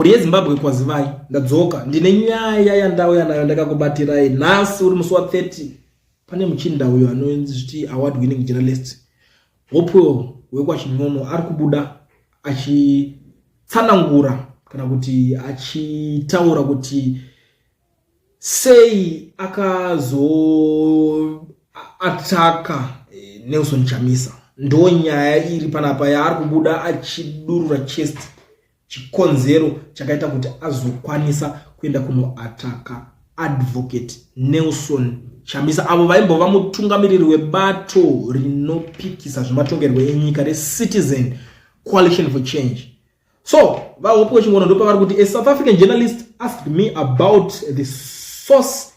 Mhuri yeZimbabwe kwazivai ndadzoka ndine nyaya yandauya nayo ndakakubatirai nhasi uri musi wa 30 pane muchinda uyo anonzi zviti award winning journalist hopewell wekwachinyono ari kubuda achitsanangura kana kuti achitaura kuti sei akazoataka eh, nelson chamisa ndo nyaya iri panapa yaari kubuda achidurura chest chikonzero chakaita kuti azokwanisa kuenda kunoataka advocate nelson chamisa avo vaimbova mutungamiriri webato rinopikisa zvematongerwo enyika recitizen coalition for change so vahope wechingono ndopavari kuti a south african journalist asked me about the source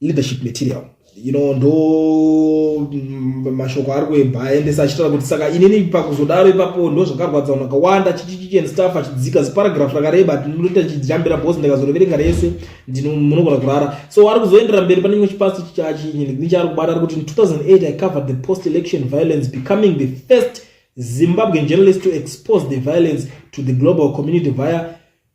leadership material you know ndo mm, mashoko ari kuemba aendesa achitaura kuti saka inini pakuzodaro ipapo ndo zvakarwadza vanhu vakawanda chichichichi and staff achidzika ziparagraph rakareba ndinoita chidyambira bos ndikazoreverenga rese munogona kurara so ari kuzoendera mberi pane chimwe chipasi chichachinechaari kubata ari kuti in 2008 i covered the post election violence becoming the first zimbabwean journalist to expose the violence to the global community via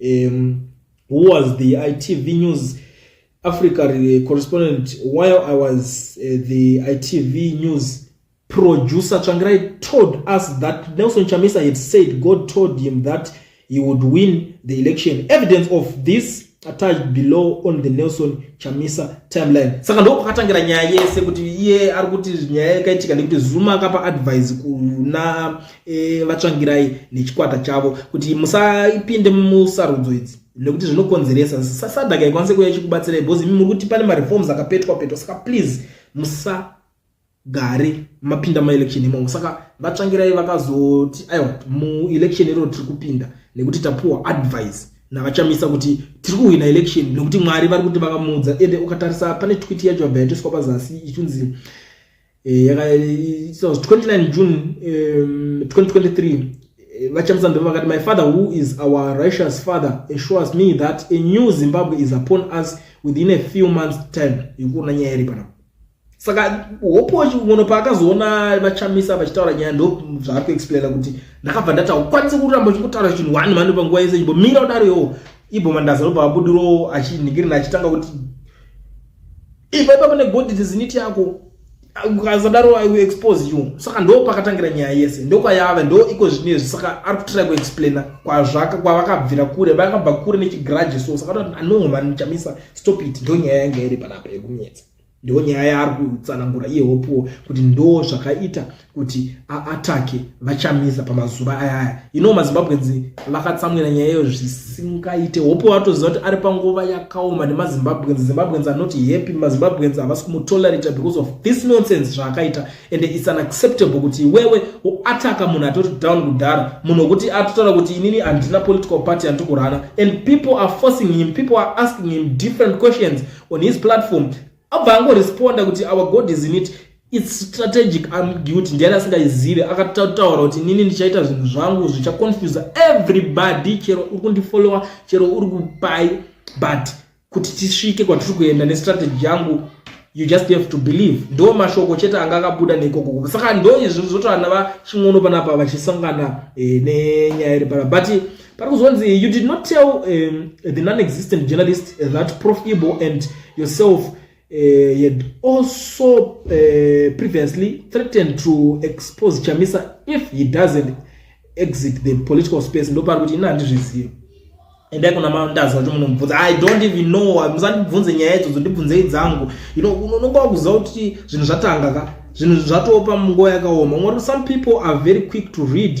um, who was the itv news africa correspondent while i was uh, the itv news producer tsvangirai told us that nelson chamisa had said god told him that he would win the election evidence of this attached below on the nelson chamisa timeline saka ndoo kwakatangira nyaya yese kuti iye ari kuti nyaya yakaitika nekuti zuma akapa advice kuna e, vatsvangirai nechikwata chavo kuti musapinde musarudzo idzi nekuti zvinokonzeresa sasadaka ikwanise kuya ichikubatsirai because imi muri kuti pane mareforms akapetwa petwa saka please musagare mapinda maelection imomo saka vatsvangirai vakazoti aiwa muelection iro tiri kupinda nekuti tapuwa advice navachamisa kuti tiri kuhwina election nekuti mwari vari kuti vakamuudza ende ukatarisa pane twiti yacho yabva yatoiswa pazasi ichunzi eh, yaka it was 29 june um, 2023 vachamisa ndeve vakati my father who is our righteous father assures me that a new zimbabwe is upon us within a few months time yekuona nyaya iri panapa saka hopo munhu paakazoona vachamisa vachitaura nyaya ndo zvaari kuexplaina kuti ndakabva ndati haukwanise kuramba uchikutaura chinhu one mhani panguva yese imbomira kudaro yoo ibhomandaza lobva abudirowo achinhikirina achitanga kuti Ipa ipa pane body disinity yako. Ukazadaro I will expose you. Saka ndo pakatangira nyaya yese. Ndo kwayava ndo iko zvine saka ari kutry kuexplaina kwazvaka kwavakabvira kure. Vakabva kure nechigrudge so saka no man chamisa stop it ndo nyaya yanga iri panapa yekunetsa. Ndo nyaya yaari kutsanangura iye hopuwo kuti ndo zvakaita kuti aatake vachamisa pamazuva ayaya ino mazimbabweans vakatsamwira nyaya iyo zvisingaite hope watoziva kuti ari panguva yakaoma nemazimbabweans zimbabweans are not happy mazimbabweans havasi kumutolerata because of this nonsense zvaakaita and its unacceptable kuti iwewe uataka munhu atoti down kudhara munhu wekuti atotaura kuti inini handina political party andikurana and people are forcing him people are asking him different questions on his platform abva angoresponda kuti our god is in it its strategic ambiguity ndiani asingaizive akatotaura kuti nini ndichaita zvinhu zvangu zvichaconfuse everybody chero uri kundifollowa chero uri kupai but kuti tisvike kwatiri kuenda nestrategy yangu you just have to believe ndo mashoko chete anga akabuda neikoko saka ndo izvi zvotoana vachin'ono panapa vachisangana eh, nenyaya iri pana but pari kuzonzi you did not tell um, the non-existent journalist that prof ibo and yourself uh, had also uh, previously threatened to expose chamisa if he doesn't exit the political space ndopari kuti ini handizvizivi endai kuna mandazi vacho munomubvunza i don't even know musandibvunze nyaya idzodzo ndibvunzei dzangu you know unonga wakuziva kuti zvinhu zvatanga ka zvinhu zvatopa munguva yakaoma ngori some people are very quick to read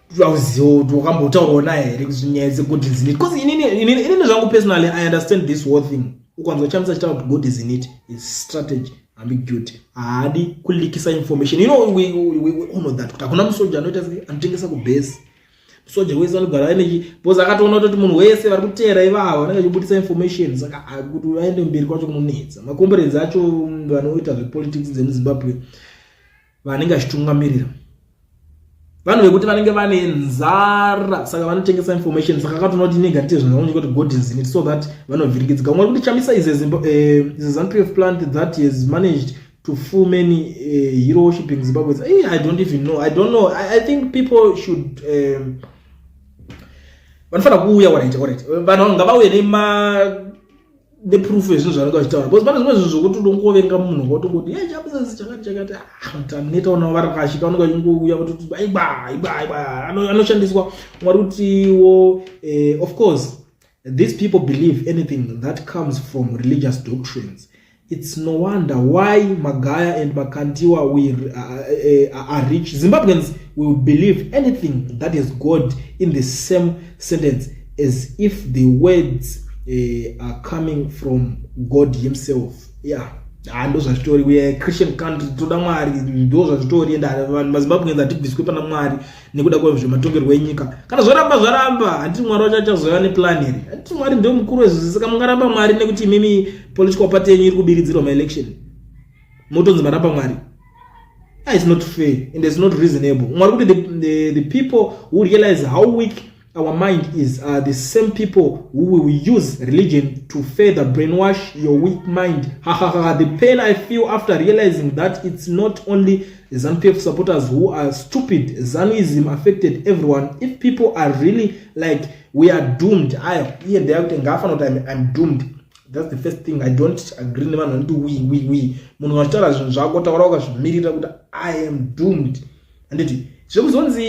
wakambotaurawo naye here kuti nyaya dzegod is in it bcause inini zvangu personally i understand this whole thing ukanzwa chamisa chitaura kuti god is in it is strategy ambiguity haadi kulikisa information you know we, we, we, we honor that kuti hakuna musoja anoita sei anotengesa kubase musoja wese anogara aine bcause akatoona kutoti munhu wese vari kuteera ivavo anenge achibudisa information saka kuti vaende mberi kwacho kunonetsa makomberedzi acho vanoita zvepolitics dzemuzimbabwe vanenge vachitungamirira vanhu vekuti vanenge vane nzara saka vanotengesa information saka akatoona kuti inenge atiite zvinhu zvavanyika kuti god is in it so that vanovhirikidzika umwe kuti chamisa is eh, a zanpf plant that has managed to full many uh, hero worshipping zimbabweans hey, eh, i don't even know i don't know i, I think people should um, vanofanira kuuya waraita waraita vanhu vangavauye nema neproof yezvinhu zvanenge vachitaura because pane zvimwe zvinhu zvokuti unongoverenga munhu ngotongoti ye chabusiness chakati chakati taneta ah, unawo vari kashika vanenge vachingouya vototi aiba aiba aiba anoshandiswa mwari kutiwo eh, of course these people believe anything that comes from religious doctrines it's no wonder why magaya and makandiwa we uh, uh, are rich zimbabweans will believe anything that is god in the same sentence as if the words uh, are coming from god himself yeah haa ah, ndo zvazvitori we christian country toda mwari ndo zvazvitori ende vanhu mazimbabwe enzi hatibviswe pana mwari nekuda kwezvematongerwo enyika kana zvoramba zvaramba handiti mwari wacho achazova neplan here handiti mwari ndo mukuru wezvose saka mungaramba mwari nekuti imimi political party yenyu iri kubiridzirwa maelection motonzi maramba mwari ah, its not fair and its not reasonable mwari kuti the, the, the people who realize how weak Our mind is uh, the same people who will use religion to further brainwash your weak mind. Ha ha ha. The pain I feel after realizing that it's not only ZANPF supporters who are stupid. Zanuism affected everyone. If people are really like we are doomed, I here they are ngafanoti I'm, I'm doomed. That's the first thing I don't agree nevanhu vanoti we we we. Munhu wachitaura zvinhu zvako taura wakazvimirira kuti I am doomed. handiti zvekuzonzi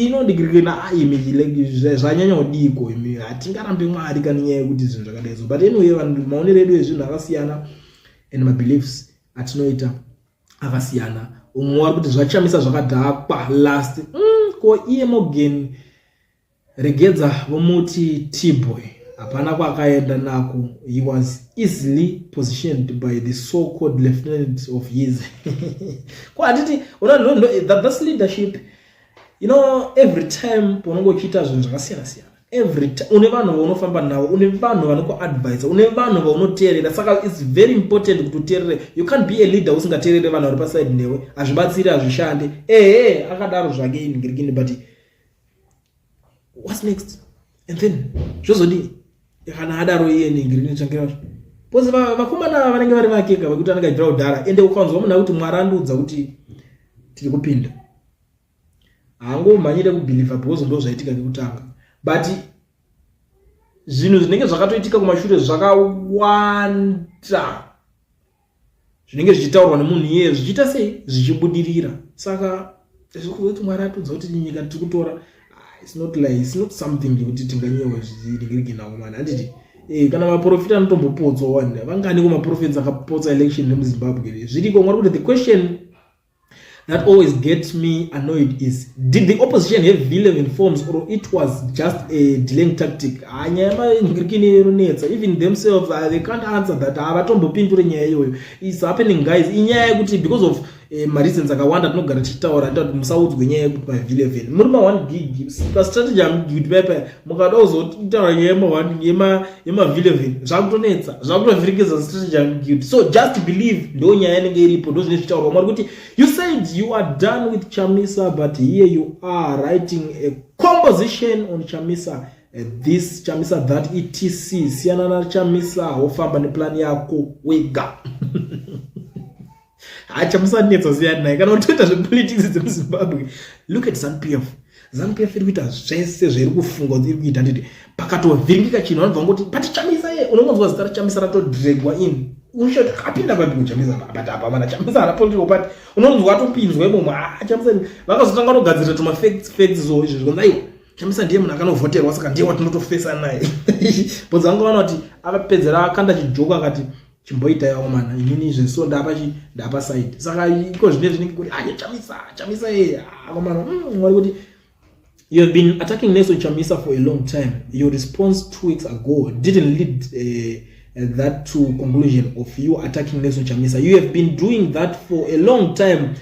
inondigirike naimi zvanyanya kudiko imi hatingarambe mwari kani nyaya yekuti zvinhu zvakadai so but anyway vanhu maonero edu ezvinhu akasiyana and mabeliefs atinoita akasiyana umwe wari kuti zvachamisa zvakadhakwa last mm, ko iye mogen Regedza vomuti T-boy hapana kwakaenda nako he was easily positioned by the so called lieutenant of his ko handiti thats leadership you know every time paunenge uchiita zvinhu zvakasiyana siyana every time une vanhu vaunofamba navo une vanhu vanokuadvisa une vanhu vaunoteerera saka its very important kuti uteerere you can't be a leader usingateerere vanhu vari paside newe hazvibatsiri hazvishande ehe akadaro zvake ingirikini but whats next and then zvozodii kana adaro iye ningirinotsvangira zvo bcause vakomana vanenge vari vakeka vekuti anenge achibvira kudhara ende ukanzwa munhu akuti mwari andiudza kuti tiri kupinda haangomhanyire kubhilivha bcause ndo zvaitika nekutanga but zvinhu zvinenge zvakatoitika kumashure zvakawanda zvinenge zvichitaurwa nemunhu iyeye zvichiita sei zvichibudirira saka zvirikuti mwari atudza kuti nyika tiri kutora ah, its not like its not something yekuti tinganyewa zviringirinagomani handiti eh, kana maprofita anotombopotswa wani vangani kumaprofits akapotsa election nemuzimbabwe zviriko mwari kuti the question that always gets me annoyed is did the opposition have v11 forms or it was just a delaying tactic ah, nyaya yemangirikini inonetsa even themselves uh, they can't answer that havatombopindure ah, nyaya iyoyo is happening guys inyaya yekuti because of eh, mareasons akawanda tinogara tichitaura tati musaudzwe nyaya yekuti mav11 muri ma1 gig pastrategy amugidbaipa mukada kuzotaura nyaya yema yemavhile vhile zvakutonetsa zvakutovhiringidza strategy yekuguilt so just believe ndo nyaya yanenge iripo ndo zvine zvitaurwa mwari kuti you said you are done with chamisa but here you are writing a composition on chamisa eh, this chamisa that etc siyana na chamisa wofamba neplan yako wega hacha musanetsa siyani naye kana utoita zvepolitics dzemuzimbabwe look at zanupf zanupf iri kuita zvese zvairi kufunga kuti iri kuita nditi pakatovhiringika chinhu vanobva ngoti but chamisa ye unongonzwa zita rachamisa ratodregwa in ushoti akapinda papi kuchamisa but apa vana chamisa hana political party unonzwa atopinzwa imomo ah, chamisa vakazotanga kutogadzirira tuma facts facts so izvo zvikonzi aiwa chamisa ndiye munhu akanovhoterwa saka ndiye watinotofesa naye bodzi vanga vana kuti akapedzera akanda chijoka akati chimboitaiwo mwana inini izvi so ndapa chi ndapa side saka iko zvine zvinenge kuti aye chamisa chamisa ye akomana mm, wari kuti you have been attacking Nelson Chamisa for a long time your response two weeks ago didn't lead uh, that to conclusion of you attacking Nelson Chamisa you have been doing that for a long time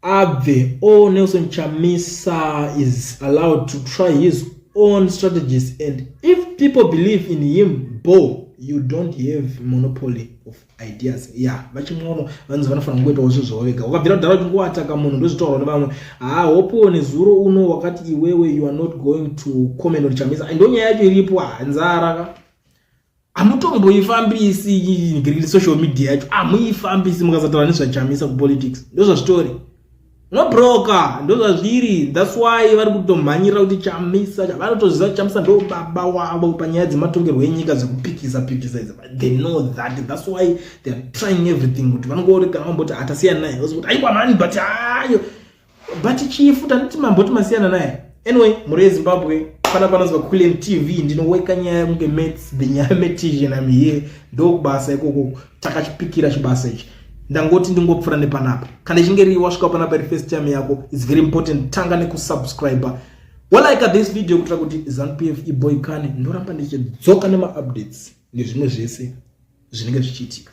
abve o nelson chamisa is allowed to try his own strategies and if people believe in him bo you don't have monopoly of ideas ya yeah, vachimwono vanzi vanofanira kungoitawo zvinhu zvavo vega ukabvira kudhara kuti ngowataka munhu ndozvitaurwa nevamwe haa hopo nezuro uno wakati iwewe you are not going to comment on chamisa ndonyaya yacho iripo hanzara ka hamutomboifambisi green social media yacho hamuifambisi mukasataura nezvachamisa kupolitics ndozvazvitori nobroka ndozvazviri thats why vari kutomhanyirira kuti chamisa vanotoziva kuti chamisa ndo baba wavo panyaya dzematongerwo enyika dzekupikisa pikisa idzi they know that thats why theyare trying everything kuti vanongori kana vamboti hatasiya naye ozi kuti aiwa mani but ayo but chifu tanoti mamboti masiyana naye anyway mhuri yezimbabwe pana panonzwa kulen tv ndinoweka nyaya yekunge mats benyaya metision am here ndokubasa ikoko takachipikira chibasa ichi ndangoti ndingopfura nepanapa kana ichinge rii wasvika panapa iri first time yako its very important tanga nekusubscribe walaika this video kuitira kuti zanupf iboikane ndoramba ndichidzoka nemaupdates nezvimwe zvese zvinenge zvichiitika